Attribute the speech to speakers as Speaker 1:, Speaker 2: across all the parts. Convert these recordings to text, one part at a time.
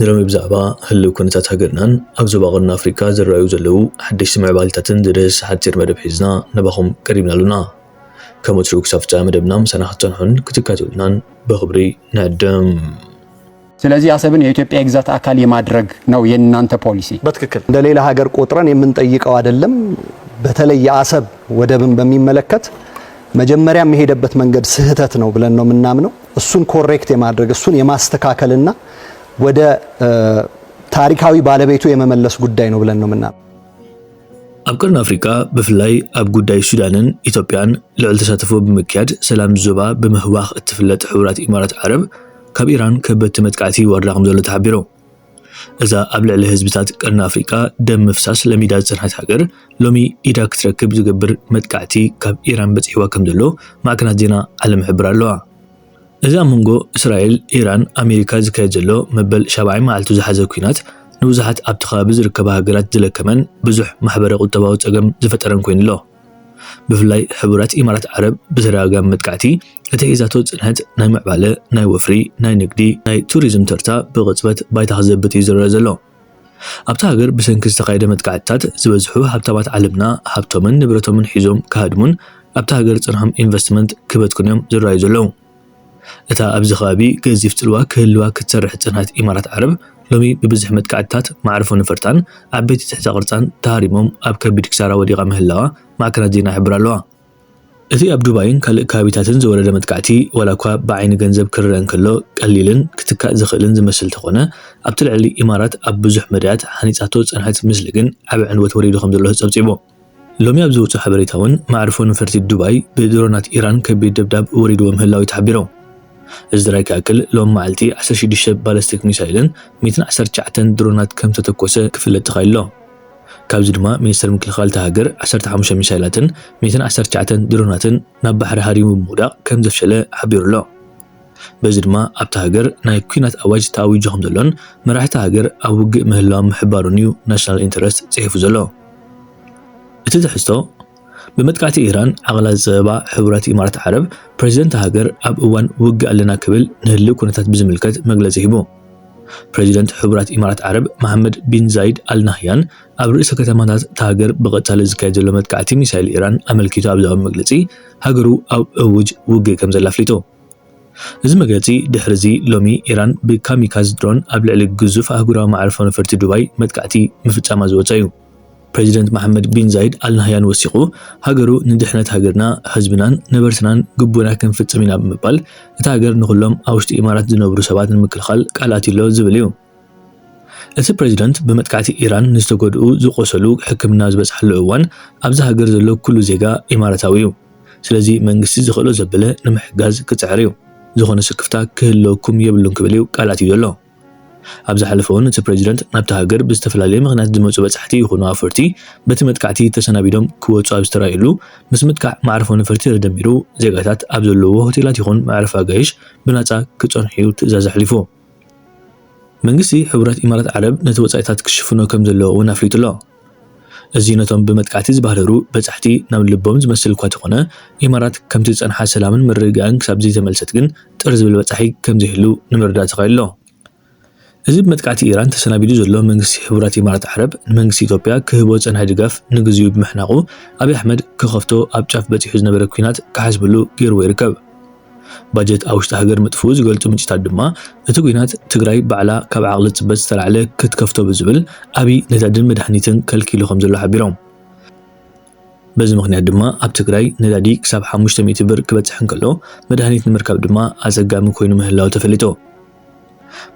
Speaker 1: ንሎሚ ብዛዕባ ህልው ኩነታት ሃገርናን ኣብ ዞባ ቀርኒ ኣፍሪቃ ዝረኣዩ ዘለዉ ሓደሽቲ ምዕባሊታትን ዝድህስስ ሓጺር መደብ ሒዝና ናባኹም ቀሪብና ኣሎና። ከም ወትሩ ክሳብ ፍጻመ መደብና ምሳና ክትጸንሑን ክትካተሉናን ብኽብሪ ንዕድም።
Speaker 2: ስለዚህ አሰብን የኢትዮጵያ የግዛት አካል የማድረግ ነው የእናንተ ፖሊሲ በትክክል እንደ ሌላ
Speaker 3: ሀገር ቆጥረን የምንጠይቀው አይደለም። በተለይ የአሰብ ወደብን በሚመለከት መጀመሪያ የሄደበት መንገድ ስህተት ነው ብለን ነው ምናምነው እሱን ኮሬክት የማድረግ እሱን የማስተካከልና ወደ ታሪካዊ ባለቤቱ የመመለስ ጉዳይ ነው ብለን ነው ምና ኣብ
Speaker 1: ቀርኒ ኣፍሪቃ ብፍላይ ኣብ ጉዳይ ሱዳንን ኢትዮጵያን ልዕል ተሳትፎ ብምክያድ ሰላም ዞባ ብምህዋኽ እትፍለጥ ሕቡራት ኢማራት ዓረብ ካብ ኢራን ከበድቲ መጥቃዕቲ ይወርዳ ከም ዘሎ ተሓቢሩ። እዛ ኣብ ልዕሊ ህዝብታት ቀርኒ ኣፍሪቃ ደም ምፍሳስ ለሚዳ ዝጸንሐት ሃገር፣ ሎሚ ኢዳ ክትረክብ ዝገብር መጥቃዕቲ ካብ ኢራን በጺሕዋ ከምዘሎ ማዕከናት ዜና ዓለም ይሕብራ ኣለዋ። እዚ ኣብ መንጎ እስራኤል፣ ኢራን፣ ኣሜሪካ ዝካየድ ዘሎ መበል ሻብዓይ መዓልቱ ዝሓዘ ኲናት፣ ንብዙሓት ኣብቲ ከባቢ ዝርከባ ሃገራት ዝለከመን ብዙሕ ማሕበረ-ቁጠባዊ ጸገም ዝፈጠረን ኮይኑ'ሎ። ብፍላይ ሕቡራት ኢማራት ዓረብ ብተደጋጋሚ መጥቃዕቲ እቲ ሒዛቶ ጽንሐት ናይ ምዕባለ፣ ናይ ወፍሪ፣ ናይ ንግዲ፣ ናይ ቱሪዝም ተርታ ብቕጽበት ባይታ ክዘብጥ እዩ ዝረኣ ዘሎ። ኣብታ ሃገር ብሰንኪ ዝተኻየደ መጥቃዕትታት ዝበዝሑ ሃብታማት ዓለምና ሃብቶምን ንብረቶምን ሒዞም ክሃድሙን ኣብታ ሃገር ጽንሖም ኢንቨስትመንት ክበትኩን እዮም ዝረኣዩ ዘለዉ። እታ ኣብዚ ከባቢ ገዚፍ ጽልዋ ክህልዋ ክትሰርሕ ዝጸንሐት ኢማራት ዓረብ፣ ሎሚ ብብዙሕ መጥቃዕትታት መዓርፎ ነፈርታን ዓበይቲ ትሕተ ቅርጻን ተሃሪሞም ኣብ ከቢድ ክሳራ ወዲቓ ምህላዋ ማዕከናት ዜና ይሕብራ ኣለዋ። እቲ ኣብ ዱባይን ካልእ ከባቢታትን ዝወረደ መጥቃዕቲ ዋላኳ ብዓይኒ ገንዘብ ክርኣ እንከሎ ቀሊልን ክትካእ ዝኽእልን ዝመስል እንተኾነ፣ ኣብቲ ልዕሊ ኢማራት ኣብ ብዙሕ መዳያት ሃኒጻቶ ዝጸንሐት ምስሊ ግን ዓቢ ዕንወት ወሪዱ ከምዘሎ ጸብጺቡ። ሎሚ ኣብ ዝወጽኦ ሓበሬታ'ውን መዓርፎ ነፈርቲ ዱባይ ብድሮናት ኢራን ከቢድ ደብዳብ ወሪድዎ ምህላዉ'ዩ ተሓቢሩ። እዚ ጥራይ ክኣክል ሎሚ መዓልቲ ዓሰርተ ሽዱሽተ ባለስቲክ ሚሳይልን ሚእትን ዓሰርተ ትሽዓተን ድሮናት ከምዝተተኮሰ ክፍለጥ ተኻኢሉ'ሎ። ካብዚ ድማ ሚኒስተር ምክልኻል እታ ሃገር ዓሰርተ ሓሙሽተ ሚሳይላትን ሚእትን ዓሰርተ ትሽዓተን ድሮናትን ናብ ባሕሪ ሃሪሙ ብምውዳቕ ከምዘፍሸለ ሓቢሩ'ሎ። በዚ ድማ ኣብታ ሃገር ናይ ኲናት ኣዋጅ ተኣዊጁ ከምዘሎን መራሕቲ ሃገር ኣብ ውግእ ምህላዎም ምሕባሩን'ዩ ናሽናል ኢንተረስት ጽሒፉ ዘሎ። እቲ ትሕዝቶ፣ ብመጥቃዕቲ ኢራን ዓቕላ ዝጸበባ ሕቡራት ኢማራት ዓረብ፣ ፕረዚደን'ታ ሃገር ኣብ እዋን ውግእ ኣለና ክብል ንህልዊ ኩነታት ብዝምልከት መግለጺ ሂቡ። ፕረዚደንት ሕቡራት ኢማራት ዓረብ መሓመድ ቢን ዛይድ ኣል ናህያን ኣብ ርእሰ ከተማታት'ታ ሃገር ብቐጻሊ ዝካየድ ዘሎ መጥቃዕቲ ሚሳይል ኢራን ኣመልኪቱ ኣብ ዝሃቦ መግለጺ፣ ሃገሩ ኣብ እዉጅ ውግእ ከምዘላ ኣፍሊጡ። እዚ መግለጺ ድሕሪ'ዚ ሎሚ ኢራን ብካሚካዝ ድሮን ኣብ ልዕሊ ግዙፍ ኣህጉራዊ መዓርፎ ነፈርቲ ዱባይ መጥቃዕቲ ምፍጻማ ዝወጸ'ዩ። ፕረዚደንት መሓመድ ቢን ዛይድ ኣል ናህያን ወሲኹ ሃገሩ ንድሕነት ሃገርና፣ ህዝብናን ነበርትናን ግቡእና ክንፍጽም ኢና ብምባል እታ ሃገር ንኹሎም ኣብ ውሽጢ ኢማራት ዝነብሩ ሰባት ንምክልኻል ቃል ኣትዩ'ሎ ዝብል'ዩ። እቲ ፕረዚደንት ብመጥቃዕቲ ኢራን ንዝተጎድኡ ዝቖሰሉ ሕክምና ዝበጽሓሉ እዋን ኣብዛ ሃገር ዘሎ ኩሉ ዜጋ ኢማራታዊ እዩ። ስለዚ መንግስቲ ዝኽእሎ ዘበለ ንምሕጋዝ ክጽዕር እዩ። ዝኾነ ስክፍታ ክህልወኩም የብሉን ክብል እዩ ቃል ኣትዩ ዘሎ። ኣብ ዝሓለፈ'ውን እቲ ፕረዚደንት ናብታ ሃገር ብዝተፈላለየ ምኽንያት ዝመጹ በጻሕቲ ይኹኑ ኣውፈርቲ በቲ መጥቃዕቲ ተሰናቢዶም ክወጹ ኣብ ዝተራእዩሉ ምስ ምጥቃዕ መዕርፎ ነፈርቲ ተደሚሩ ዜጋታት ኣብ ዘለዉዎ ሆቴላት ይኹን መዕረፊ ኣጋይሽ ብናጻ ክጸንሑ'ዩ ትእዛዝ ኣሕሊፉ። መንግስቲ ሕቡራት ኢማራት ዓረብ ነቲ ወጻኢታት ክሽፍኖ ከም ዘለዎ እውን ኣፍሊጡ ኣሎ። እዚ ነቶም ብመጥቃዕቲ ዝበህረሩ በጻሕቲ ናብ ልቦም ዝመስል እኳ ተኾነ፣ ኢማራት ከምቲ ዝጸንሓ ሰላምን ምርግጋእን ክሳብ ዘይተመልሰት ግን ጥር ዝብል በጻሒ ከም ዘይህሉ ንምርዳእ ተኻኢሉ ኣሎ። እዚ ብመጥቃዕቲ ኢራን ተሰናቢዱ ዘሎ መንግስቲ ሕቡራት ኢማራት ዓረብ ንመንግስቲ ኢትዮጵያ ክህቦ ዝጸንሐ ድጋፍ ንግዚኡ ብምሕናቑ፣ ኣብይ ኣሕመድ ክኸፍቶ ኣብ ጫፍ በጺሑ ዝነበረ ኲናት ክሓስበሉ ገይርዎ ይርከብ። ባጀት ኣብ ውሽጢ ሃገር ምጥፍኡ ዝገልፁ ምንጭታት ድማ እቲ ኲናት ትግራይ ባዕላ ካብ ዓቕሊ ፅበት ዝተላዕለ ክትከፍቶ ብዝብል ኣብይ ነዳድን መድሃኒትን ከልኪሉ ከምዘሎ ሓቢሮም። በዚ ምኽንያት ድማ ኣብ ትግራይ ነዳዲ ክሳብ ሓሙሽተ ሚእቲ ብር ክበፅሕ እንከሎ መድሃኒት ንምርካብ ድማ ኣፀጋሚ ኮይኑ ምህላዉ ተፈሊጡ።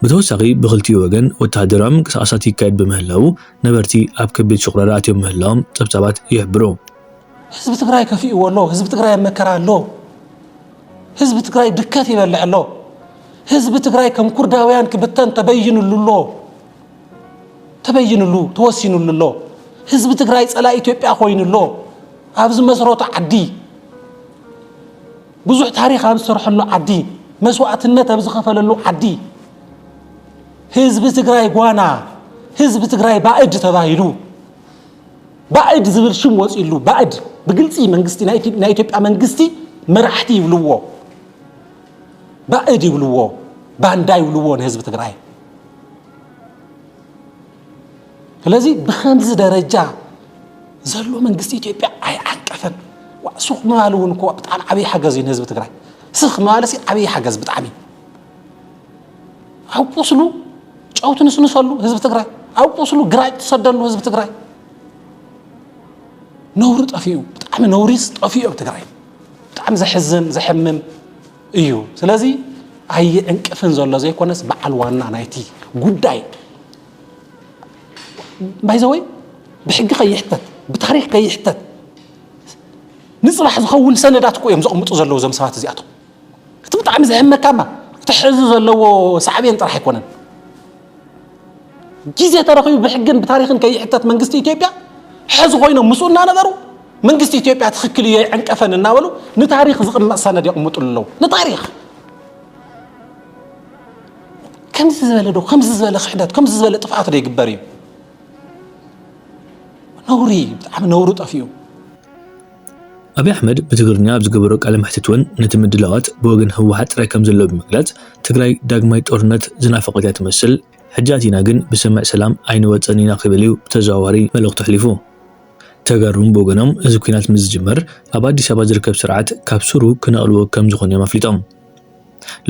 Speaker 1: ብተወሳኺ ብኽልቲኡ ወገን ወተሃደራዊ ምንቅስቓሳት ይካየድ ብምህላዉ ነበርቲ ኣብ ከቢድ ሽቑረር ኣትዮም ምህላዎም ፀብፃባት ይሕብሩ። ህዝቢ
Speaker 4: ትግራይ ከፊእዎ ኣሎ፣ ህዝቢ ትግራይ ኣብ መከራ ኣሎ፣ ህዝቢ ትግራይ ድከት ይበልዕ ኣሎ፣ ህዝቢ ትግራይ ከም ኩርዳውያን ክብተን ተበይንሉ ኣሎ፣ ተበይንሉ ተወሲንሉ ኣሎ፣ ህዝቢ ትግራይ ፀላኢ ኢትዮጵያ ኮይኑ ኣሎ፣ ኣብ ዝመስረቶ ዓዲ ብዙሕ ታሪኽ ኣብ ዝሰርሐሉ ዓዲ፣ መስዋእትነት ኣብ ዝኸፈለሉ ዓዲ፣ ህዝቢ ትግራይ ጓና፣ ህዝቢ ትግራይ ባእድ ተባሂሉ ባእድ ዝብል ሽም ወፂሉ ባእድ ብግልፂ መንግስቲ ናይ ኢትዮጵያ መንግስቲ መራሕቲ ይብልዎ ባእድ ይብልዎ ባንዳ ይብልዎ ንህዝቢ ትግራይ ስለዚ ብከምዚ ደረጃ ዘሎ መንግስቲ ኢትዮጵያ ኣይዓቀፈን። ዋእ ስኽ ምባል እውን እኮ ብጣዕሚ ዓብዪ ሓገዝ እዩ ንህዝቢ ትግራይ። ስኽ ምባልሲ ዓብዪ ሓገዝ ብጣዕሚ እዩ። ኣብ ቁስሉ ጨው ትንስንሰሉ ህዝቢ ትግራይ፣ ኣብ ቁስሉ ግራጭ ትሰደሉ ህዝቢ ትግራይ። ነውሪ ጠፊኡ ብጣዕሚ ነውሪስ ጠፊኡ ኣብ ትግራይ ብጣዕሚ ዘሕዝን ዘሕምም እዩ። ስለዚ ኣይዕንቅፍን ዘሎ ዘይኮነስ በዓል ዋና ናይቲ ጉዳይ ባይዘወይ ብሕጊ ከይሕተት ብታሪክ ከይሕተት ንፅባሕ ዝኸውን ሰነዳት እኮ እዮም ዘቕምጡ ዘለዉ እዞም ሰባት እዚኣቶም እቲ ብጣዕሚ ዘሕመካማ እቲ ሕዚ ዘለዎ ሳዕቤን ጥራሕ ኣይኮነን ግዜ ተረኺቡ ብሕግን ብታሪክን ከይሕተት መንግስቲ ኢትዮጵያ ሕዚ ኮይኖም ምስኡ እናነበሩ መንግስቲ ኢትዮጵያ ትኽክል እዩ ኣይዕንቀፈን እናበሉ ንታሪክ ዝቕመጥ ሰነድ የቕምጡሉ ኣለዉ ንታሪክ ከምዚ ዝበለ ዶ ከምዚ ዝበለ ክሕደት ከምዚ ዝበለ ጥፍኣት ዶ ይግበር እዩ? ነውሪ እዩ፣ ብጣዕሚ ነውሪ ጠፊኡ።
Speaker 1: ኣብይ ኣሕመድ ብትግርኛ ኣብ ዝገበሮ ቃለ መሕትት እውን ነቲ ምድላዋት ብወገን ህወሓት ጥራይ ከምዘሎ ብምግላፅ ትግራይ ዳግማይ ጦርነት ዝናፈቐት እያ ትመስል ሕጂ ኣቲና ግን ብስምምዕ ሰላም ኣይንወፅእን ኢና ክብል እዩ ብተዘዋዋሪ መልእኽቱ ኣሕሊፉ። ተጋሩ እውን ብወገኖም እዚ ኲናት ምስ ዝጅመር ኣብ ኣዲስ ኣበባ ዝርከብ ስርዓት ካብ ሱሩ ክነቕልዎ ከምዝኾኑ እዮም ኣፍሊጦም።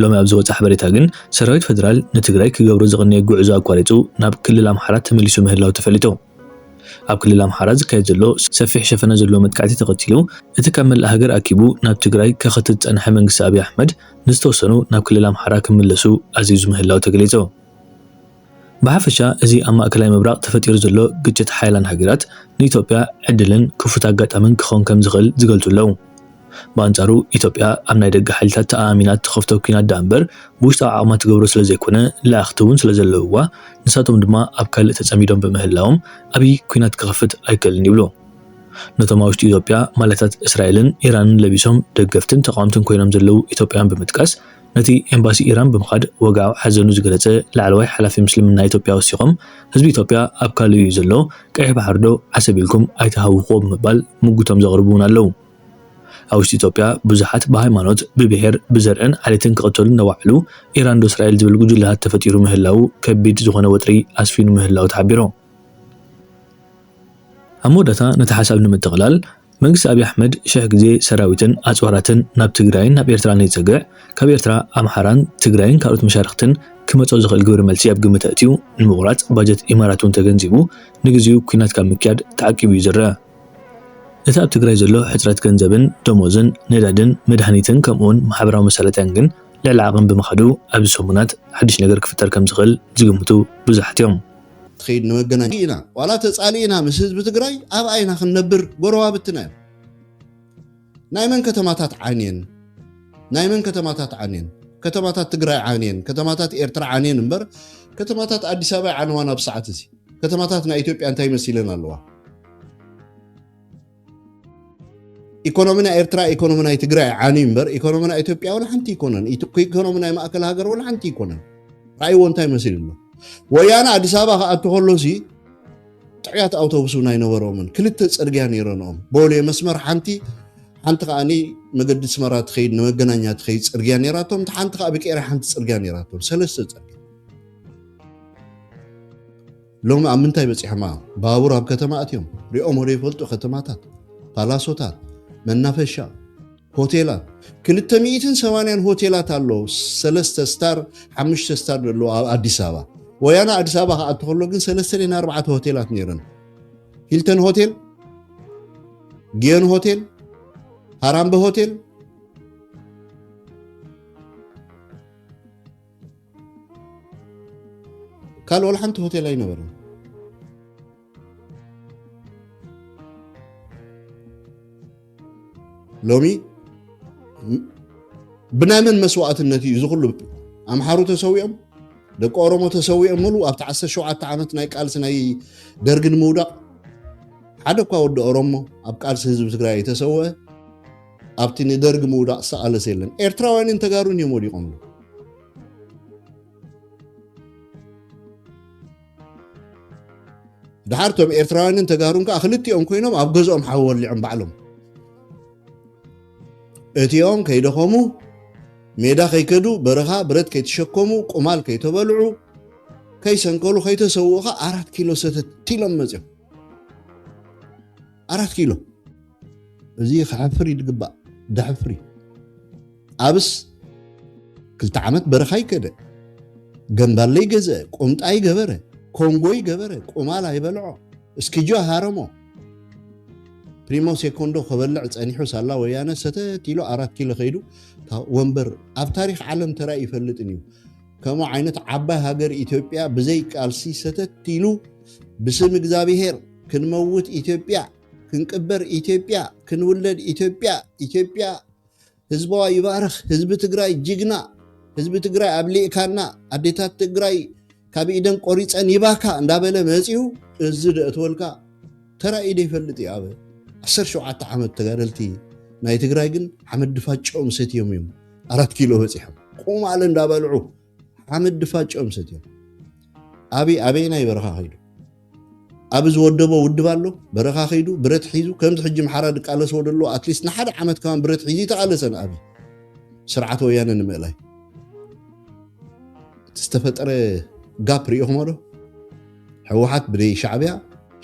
Speaker 1: ሎሚ ኣብ ዝወጸ ሓበሬታ ግን ሰራዊት ፈደራል ንትግራይ ክገብሮ ዝቐነየ ጉዕዞ ኣቋሪጹ ናብ ክልል ኣምሓራ ተመሊሱ ምህላው ተፈሊጡ። ኣብ ክልል ኣምሓራ ዝካየድ ዘሎ ሰፊሕ ሸፈነ ዘለዎ መጥቃዕቲ ተኸቲሉ እቲ ካብ መላእ ሃገር ኣኪቡ ናብ ትግራይ ከኸትት ዝጸንሐ መንግስቲ ኣብይ ኣሕመድ ንዝተወሰኑ ናብ ክልል ኣምሓራ ክምለሱ ኣዚዙ ምህላው ተገሊጹ። ብሓፈሻ እዚ ኣብ ማእከላይ ምብራቕ ተፈጢሩ ዘሎ ግጭት ሓያላን ሃገራት ንኢትዮጵያ ዕድልን ክፉት ኣጋጣምን ክኸውን ከም ዝኽእል ዝገልጹ ኣለዉ። ብኣንጻሩ ኢትዮጵያ ኣብ ናይ ደገ ሓይልታት ተኣኣሚና እትኸፍቶ ኲናት ደኣ'ምበር ብውሽጣዊ ዓቕማ ትገብሮ ስለ ዘይኮነ ለኣኽቲ'ውን ስለ ዘለውዋ ንሳቶም ድማ ኣብ ካልእ ተጸሚዶም ብምህላዎም ዓቢ ኲናት ክኸፍት ኣይክእልን ይብሉ። ነቶም ኣብ ውሽጢ ኢትዮጵያ ማልያታት እስራኤልን ኢራንን ለቢሶም ደገፍትን ተቓወምትን ኮይኖም ዘለዉ ኢትዮጵያውያን ብምጥቃስ፣ ነቲ ኤምባሲ ኢራን ብምኻድ ወግዓዊ ሓዘኑ ዝገለጸ ላዕለዋይ ሓላፊ ምስልምና ኢትዮጵያ ወሲኾም፣ ህዝቢ ኢትዮጵያ ኣብ ካልእ እዩ ዘሎ፣ ቀይሕ ባሕሪ'ዶ ዓሰብ ኢልኩም ኣይትሃውኹዎ ብምባል ሙጉቶም ዘቕርቡ'ውን ኣለዉ። ኣብ ውሽጢ ኢትዮጵያ ብዙሓት ብሃይማኖት፣ ብብሄር፣ ብዘርእን ዓሌትን ክቕተሉ እናወዓሉ፣ ኢራን'ዶ እስራኤል ዝብል ጉጅለታት ተፈጢሩ ምህላዉ ከቢድ ዝኾነ ወጥሪ ኣስፊኑ ምህላዉ ተሓቢሩ። ኣብ መወዳእታ ነቲ ሓሳብ ንምጥቕላል፣ መንግስቲ ኣብይ ኣሕመድ ሽሕ ግዜ ሰራዊትን ኣጽዋራትን ናብ ትግራይን ናብ ኤርትራን የጸግዕ፣ ካብ ኤርትራ፣ ኣምሓራን ትግራይን ካልኦት መሻርኽትን ክመጾ ዝኽእል ግብረ መልሲ ኣብ ግምት ኣእትዩ ንምቑራጽ ባጀት ኢማራት እውን ተገንዚቡ ንግዚኡ ኲናት ካብ ምክያድ ተዓቂቡ እዩ ዝረኣ። እቲ ኣብ ትግራይ ዘሎ ሕጽረት ገንዘብን ደሞዝን፣ ነዳድን መድሃኒትን ከምኡውን ማሕበራዊ መሳለጥያን ግን ልዕሊ ዓቕን ብምኻዱ ኣብዚ ሰሙናት ሓድሽ ነገር ክፍጠር ከም ዝኽእል ዝግምቱ ብዙሓት እዮም። ትኸይድ
Speaker 5: ንመገናኛ ኢና ዋላ ተፃሊእና ምስ ህዝቢ ትግራይ ኣብኣ ኢና ክንነብር ጎረባብትና እዮም ናይ መን ከተማታት ዓንየን ናይ መን ከተማታት ዓንየን ከተማታት ትግራይ ዓንየን ከተማታት ኤርትራ ዓንየን እምበር ከተማታት ኣዲስ ኣበባ ይዓነዋን ኣብ ሰዓት እዚ ከተማታት ናይ ኢትዮጵያ እንታይ መሲለን ኣለዋ ኢኮኖሚ ናይ ኤርትራ ኢኮኖሚ ናይ ትግራይ ዓንዩ እምበር ኢኮኖሚ ናይ ኢትዮጵያ ወላ ሓንቲ ይኮነን ኢኮኖሚ ናይ ማእከል ሃገር ወላ ሓንቲ ይኮነን ራእይዎ እንታይ መስል ኣሎ ወያነ ኣዲስ ኣበባ ክኣቱ ከሎሲ ጥዕያት ኣውቶቡስ እውን ኣይነበሮምን ክልተ ፅርግያ ነይረንኦም ቦሌ መስመር ሓንቲ ሓንቲ ከዓ መገዲ ስመራ ትኸይድ ንመገናኛ ትኸይድ ፅርግያ ነይራቶም እቲ ሓንቲ ከዓ ብቄራ ሓንቲ ፅርግያ ነይራቶም ሰለስተ ፅርግያ ሎሚ ኣብ ምንታይ በጺሖም ኣዮም ባቡር ኣብ ከተማ ኣትዮም ሪኦሞ ዶ ይፈልጡ ከተማታት ፓላሶታት መናፈሻ ሆቴላት ክልተ ሚኢትን ሰማንያን ሆቴላት ኣሎ ሰለስተ ስታር ሓሙሽተ ስታር ዘለዎ ኣብ ኣዲስ ኣበባ ወያና ኣዲስ ኣበባ ክኣቱ ከሎ ግን ሰለስተ ደን ኣርባዕተ ሆቴላት ነይረን ሂልተን ሆቴል ጊዮን ሆቴል ሃራምበ ሆቴል ካልእ ዋላ ሓንቲ ሆቴል ኣይነበረን ሎሚ ብናይ መን መስዋእትነት እዩ እዚ ኩሉ ኣምሓሩ ተሰዊኦም ደቂ ኦሮሞ ተሰዊኦም ሙሉ ኣብቲ 17 ዓመት ናይ ቃልሲ ናይ ደርጊ ንምውዳቕ ሓደ እኳ ወዲ ኦሮሞ ኣብ ቃልሲ ህዝቢ ትግራይ ተሰወ ኣብቲ ንደርጊ ምውዳቕ ዝተቓለሰ የለን። ኤርትራውያንን ተጋሩን እዮም ወዲቖምሉ። ድሓር እቶም ኤርትራውያንን ተጋሩን ከዓ ክልቲኦም ኮይኖም ኣብ ገዝኦም ሓዊ ወሊዖም ባዕሎም እቲኦም ከይደኸሙ ሜዳ ከይከዱ በረኻ ብረት ከይተሸከሙ ቁማል ከይተበልዑ ከይሰንከሉ ከይተሰውኡ ከዓ ኣራት ኪሎ ሰተት ኢሎም መፅኦም ኣራት ኪሎ እዚ ክሕፍር እዩ ዝግባእ ደሕፍሪ ኣብስ ክልተ ዓመት በረኻ ይከደ ገንባለ ይገዝአ ቁምጣ ይገበረ ኮንጎ ይገበረ ቁማል ኣይበልዖ እስኪጆ ሃረሞ ፕሪሞ ሴኮንዶ ከበልዕ ፀኒሑ ሳላ ወያነ ሰተት ኢሉ ኣራት ኪሎ ከይዱ ወንበር ኣብ ታሪክ ዓለም ተራኢ ይፈልጥን እዩ ከምኡ ዓይነት ዓባይ ሃገር ኢትዮጵያ ብዘይ ቃልሲ ሰተት ኢሉ ብስም እግዚኣብሄር ክንመውት ኢትዮጵያ ክንቅበር ኢትዮጵያ ክንውለድ ኢትዮጵያ ኢትዮጵያ ህዝባዋ ይባርኽ ህዝቢ ትግራይ ጅግና ህዝቢ ትግራይ ኣብሊዕካና ኣዴታት ትግራይ ካብ ኢደን ቆሪፀን ይባካ እንዳበለ መፂኡ እዚ ደእትወልካ ተራእዩ ዶ ይፈልጥ እዩ ኣብ 17 ዓመት ተጋደልቲ ናይ ትግራይ ግን ሓመድ ድፋጭኦም ሰትዮም እዮም ኣራት ኪሎ በፂሖም ቁማል እንዳበልዑ ሓመድ ድፋጭኦም ሰትዮም ኣብይ ኣበየናይ በረኻ ከይዱ ኣብ ዝወደቦ ውድብ ኣሎ በረኻ ከይዱ ብረት ሒዙ ከምዚ ሕጂ ምሓራ ድቃለስዎ ደሎ ኣትሊስት ንሓደ ዓመት ከማን ብረት ሒዙ ይተቃለሰን ኣብ ስርዓት ወያነ ንምእላይ እቲ ዝተፈጠረ ጋፕ ሪኢኹሞ ዶ ሕወሓት ብደይ ሻዕብያ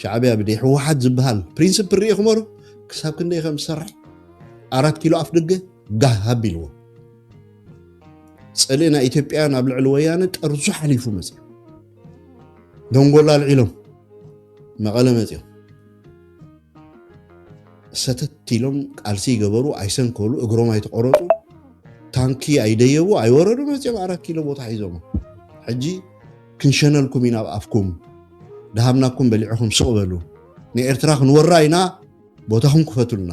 Speaker 5: ሻዕብያ ብደይ ሕወሓት ዝበሃል ፕሪንስፕል ሪኢኹሞ ዶ ክሳብ ክንደይ ከም ዝሰርሕ ኣራት ኪሎ ኣፍ ደገ ጋህ ኣቢልዎ ፅልኢ ናይ ኢትዮጵያን ኣብ ልዕሊ ወያነ ጠርዙ ሓሊፉ መፅዩ ደንጎላ ኣልዒሎም መቐለ መፅዮም ሰተት ኢሎም ቃልሲ ይገበሩ ኣይሰንከሉ እግሮም ኣይተቆረጡ ታንኪ ኣይደየቡ ኣይወረዱ መፅዮም ኣራት ኪሎ ቦታ ሒዞሞ ሕጂ ክንሸነልኩም ኢና ኣብ ኣፍኩም ድሃብናኩም በሊዕኹም ስቕ በሉ ንኤርትራ ክንወራ ኢና ቦታኹም ክፈቱልና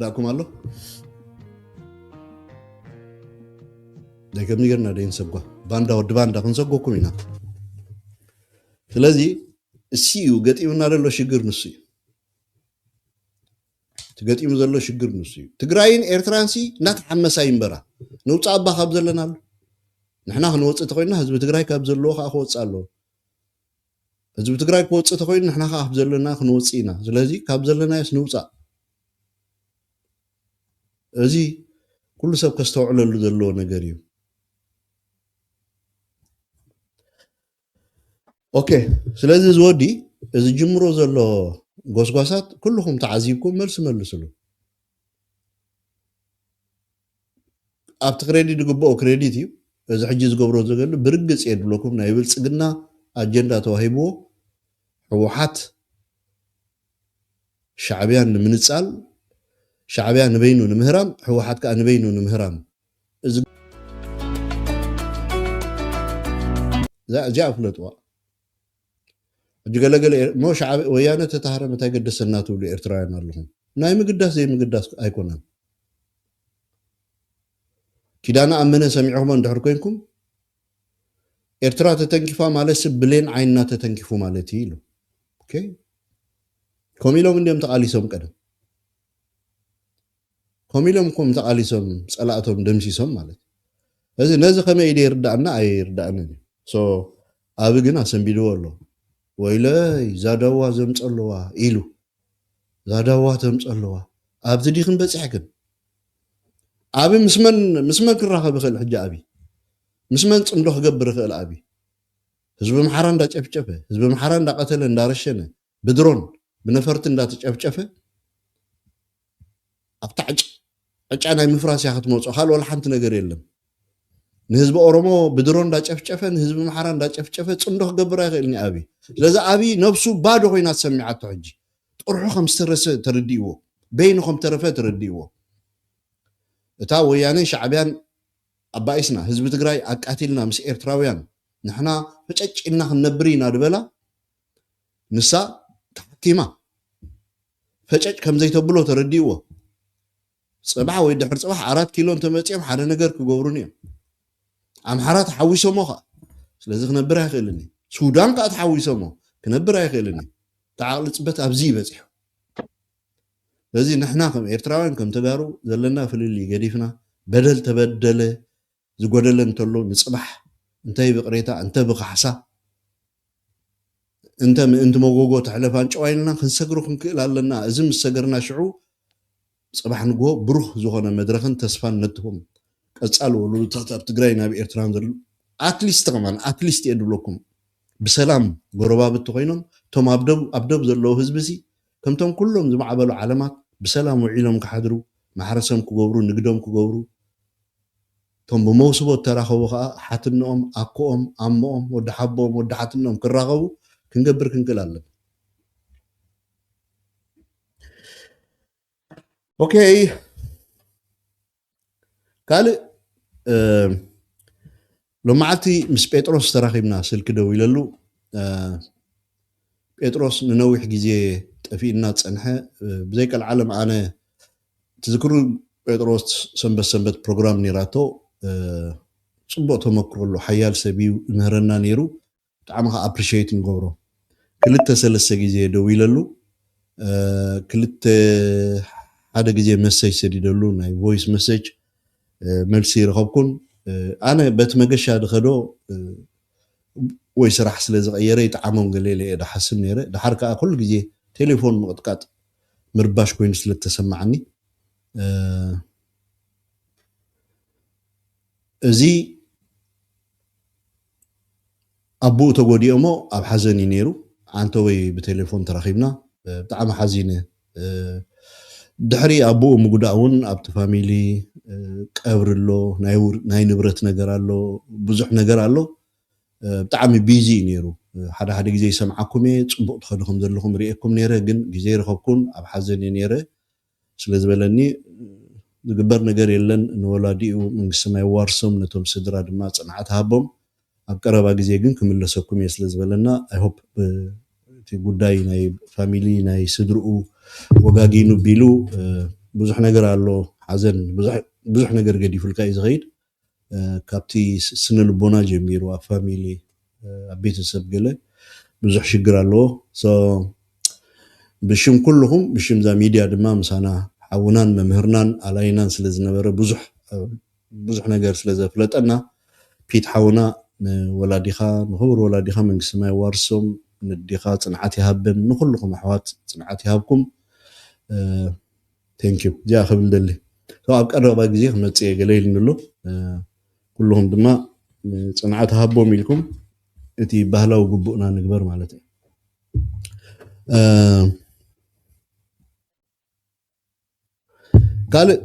Speaker 5: ላኩም ኣሎ ደገ ሚገርና ደይን ሰጓ ባንዳ ወዲ ባንዳ ክንሰጎኩም ኢና ስለዚ እሲ እዩ ገጢሙና ዘሎ ሽግር ንሱ እዩ ትገጢሙ ዘሎ ሽግር ንሱ እዩ ትግራይን ኤርትራን ሲ እናተሓመሳ ይንበራ ንውፃእ እባ ካብ ዘለናሉ ንሕና ክንወፅእ ተኮይና ህዝቢ ትግራይ ካብ ዘለዎ ከዓ ክወፅእ ኣለዎ ህዝቢ ትግራይ ክወፅእ ተኮይኑ ንሕና ከዓ ካብ ዘለና ክንወፅእ ኢና ስለዚ ካብ ዘለናዮስ ንውፃእ እዚ ኩሉ ሰብ ከስተውዕለሉ ዘለዎ ነገር እዩ ኦኬ ስለዚ ዝወዲ እዚ ጅምሮ ዘሎ ጎስጓሳት ኩልኩም ተዓዚብኩም መልሲ መልስሉ ኣብቲ ክሬዲት ዝግበኦ ክሬዲት እዩ እዚ ሕጂ ዝገብሮ ዘገሉ ብርግጽ እየ ድብለኩም ናይ ብልጽግና ኣጀንዳ ተዋሂብዎ ሕውሓት ሻዕብያን ንምንጻል ሻዕብያ ንበይኑ ንምህራም ሕውሓት ከኣ ንበይኑ ንምህራም እዚ እዚኣ ፍለጥዋ። ሕጂ ገለ ገለ እሞ ሻዕብያ ወያነ ትታሃረም እንታይ ገደሰና ትብሉ ኤርትራውያን ኣለኹም ናይ ምግዳስ ዘይምግዳስ ኣይኮነን ኪዳነ ኣመነ ሰሚዕኹሞ እንድሕር ኮንኩም ኤርትራ ተተንኪፋ ማለትሲ ብሌን ዓይንና ተተንኪፉ ማለት እዩ ኢሉ ከምኡ ኢሎም እንዲዮም ተቓሊሶም ቀደም ከምኡ ኢሎም እኮም ተቃሊሶም ፀላእቶም ደምሲሶም ማለት እዩ ስለዚ ነዚ ከመይ ኢሉ ይርዳኣና ኣይርዳኣንን እዩ። So ኣቢ ግን ኣሰንቢድዎ ኣሎ ወይለይ ዛዳዋ ዘምፀለዋ ኢሉ ዛዳዋ ተምፀለዋ ኣብት ዲክን በፂሕክን ኣቢ ምስ መን ምስ መን ክራከብ ይክእል ሕጂ ኣቢ ምስ መን ፅምዶ ክገብር ይክእል ኣቢ ህዝቢ ኣምሓራ እንዳጨፍጨፈ ህዝቢ ኣምሓራ እንዳቀተለ እንዳረሸነ ብድሮን ብነፈርቲ እንዳተጨፍጨፈ ኣብታ ዕጫ ናይ ምፍራስ እያ ክትመፆ ካልእ ወላ ሓንቲ ነገር የለን ንህዝቢ ኦሮሞ ብድሮን እንዳጨፍጨፈ ንህዝቢ ምሓራ እንዳጨፍጨፈ ፅምዶ ክገብር ኣይኽእልን እዩ ኣብይ ስለዚ ኣብይ ነብሱ ባዶ ኮይና ተሰሚዓቶ ሕጂ ጥርሑ ከም ዝተረሰ ተረዲእዎ በይኑ ከም ተረፈ ተረዲእዎ እታ ወያነን ሻዕብያን ኣባኢስና ህዝቢ ትግራይ ኣቃቲልና ምስ ኤርትራውያን ንሕና ፈጨጭ ኢልና ክንነብር ኢና ድበላ ንሳ ተሓኪማ ፈጨጭ ከም ዘይተብሎ ተረዲእዎ ጽባሕ ወይ ድሕሪ ጽባሕ ኣራት ኪሎ እንተመጺኦም ሓደ ነገር ክገብሩኒ እዮም ኣምሓራ ተሓዊሶሞ ከዓ ስለዚ ክነብር ኣይኽእልን እዩ ሱዳን ከዓ ተሓዊሶሞ ክነብር ኣይኽእልን እዩ ተዓቕሊ ፅበት ኣብዚ ይበፂሑ ስለዚ ንሕና ከም ኤርትራውያን ከም ተጋሩ ዘለና ፍልልይ ገዲፍና በደል ተበደለ ዝጎደለ እንተሎ ንጽባሕ እንተ ብቅሬታ እንተ ብካሕሳ እንተ ምእንቲ መጎጎ ትሕለፍ ኣንጭዋ ኢልና ክንሰግሮ ክንክእል ኣለና። እዚ ምስ ሰገርና ሽዑ ጽባሕ ንግሆ ብሩህ ዝኾነ መድረኽን ተስፋን ነትሆም። ቀጻሊ ወሎዶታት ኣብ ትግራይን ኣብ ኤርትራን ዘለዉ ኣትሊስት ከማን ኣትሊስት እየ ድብለኩም ብሰላም ጎረባብቲ ኮይኖም እቶም ኣብ ዶብ ኣብ ዶብ ዘለዉ ህዝቢ'ሲ ከምቶም ኩሎም ዝማዕበሉ ዓለማት ብሰላም ውዒሎም ክሓድሩ፣ ማሕረሰም ክገብሩ፣ ንግዶም ክገብሩ፣ እቶም ብመውስቦ እተራኸቡ ከኣ ሓትንኦም፣ ኣኮኦም፣ ኣሞኦም፣ ወዲ ሓቦኦም፣ ወዲ ሓትንኦም ክራኸቡ ክንገብር ክንክእል ኣለና። ኦኬ። ካልእ ሎም መዓልቲ ምስ ጴጥሮስ ተራኺብና ስልኪ ደዊለሉ ጴጥሮስ ንነዊሕ ግዜ ጠፊኡና ዝጸንሐ ብዘይቀልዓለም ኣነ ትዝክሩ ጴጥሮስ ሰንበት ሰንበት ፕሮግራም ነይራቶ ጽቡቕ ተመክሮ ኣሎ ሓያል ሰብ እዩ ይምህረና ነይሩ ብጣዕሚ ከኣ ኣፕሪሸይት ንገብሮ ክልተ ሰለስተ ግዜ ደዊለሉ ክልተ ሓደ ግዜ መሰጅ ሰዲደሉ ናይ ቮይስ መሰጅ መልሲ ኣይረኸብኩን ኣነ በቲ መገሻ ድኸዶ ወይ ስራሕ ስለ ዝቐየረ ይጥዓሞም ገለ ኢለ እየ ድሓስብ ነይረ ድሓር ከኣ ኩሉ ግዜ ቴሌፎን ምቕጥቃጥ ምርባሽ ኮይኑ ስለ እተሰማዓኒ እዚ ኣቡኡ ተጎዲኦሞ ኣብ ሓዘን እዩ ነይሩ ዓንተወይ ብቴሌፎን ተራኺብና ብጣዕሚ ሓዚነ ድሕሪ ኣቡኡ ምጉዳእ ውን ኣብቲ ፋሚሊ ቀብሪ ኣሎ ናይ ንብረት ነገር ኣሎ ብዙሕ ነገር ኣሎ ብጣዕሚ ቢዚ እዩ ነይሩ ሓደ ሓደ ግዜ ይሰምዓኩም እየ ጽቡቅ ትኸዱ ከምዘለኹም ሪኤኩም ነይረ ግን ግዜ ኣይረኸብኩን ኣብ ሓዘን እየ ነይረ ስለ ዝበለኒ ዝግበር ነገር የለን ንወላዲኡ መንግስተ ሰማይ የዋርሶም ነቶም ስድራ ድማ ጽንዓት ሃቦም ኣብ ቀረባ ግዜ ግን ክምለሰኩም እየ ስለ ዝበለና i hope እቲ ጉዳይ ናይ ፋሚሊ ናይ ስድርኡ ወጋጊኑ ቢሉ ብዙሕ ነገር ኣሎ ሓዘን ብዙሕ ነገር ገዲፉልካ እዩ ዝኸይድ ካብቲ ስነ ልቦና ጀሚሩ ኣብ ፋሚሊ ኣብ ቤተሰብ ገለ ብዙሕ ሽግር ኣለዎ so ብሽም ኩሉኹም ብሽም እዛ ሚድያ ድማ ምሳና ሓውናን መምህርናን ኣላይናን ስለ ዝነበረ ብዙሕ ብዙሕ ነገር ስለ ዘፍለጠና ፒት ሓውና ንወላዲኻ ንኽቡር ወላዲኻ መንግስተ ሰማይ የዋርሶም ነዲኻ ፅንዓት ይሃበን ንኹሉኹም ኣሕዋት ፅንዓት ይሃብኩም Thank you እዚኣ ክብል ይደሊ so ኣብ ቀረባ ግዜ ክመጽእ እየ ገለ ኢልኒ ኣሎ ኩሉኹም ድማ ጽንዓት ሃቦም ኢልኩም እቲ ባህላዊ ግቡእና ንግበር ማለት እዩ ካልእ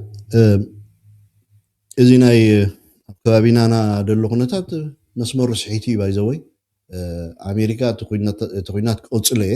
Speaker 5: እዚ ናይ ኣብ ከባቢና ና ደሎ ኩነታት መስመሩ ስሒቱ እዩ ባይዘወይ ኣሜሪካ እቲ ኩናት ክቕፅሎ እየ